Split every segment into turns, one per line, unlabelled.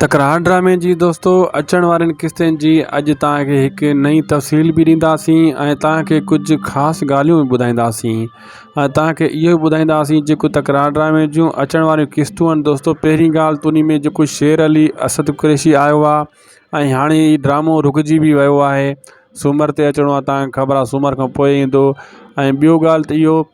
تڪرار ڊرامي جي دوستو اچڻ وارين قسطين جي اڄ توهان کي هڪ نئين تفصيل به ڏينداسين ۽ توهان کي ڪجهه خاص ڳالهيون به ٻڌائينداسين ۽ توهان کي اهو به ٻڌائينداسين جيڪو تڪرار ڊرامي جون اچڻ واريون قسطون آهن دوستو پهرين ڳالهه ته انهي ۾ جيڪو شير علي اسد قريشي آيو آهي ۽ هاڻي هي ڊرامو رڪجي به ويو آهي سومر تي اچڻو آهي توهان کي خبر آهي سومر کان پوء ايندو ۽ ٻيو ڳالهه ته اهو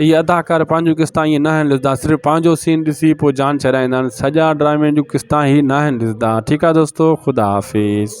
اهي اداڪار پنهنجون قسطا ائين ناهن ڏسندا صرف پنهنجو سين ڏسي پوء جان ڇڏائيندا آهن سڄا ڊرامي جون قسطا هي ناهن ڏسندا ٺيڪ آهي دوستو خدا حافظ.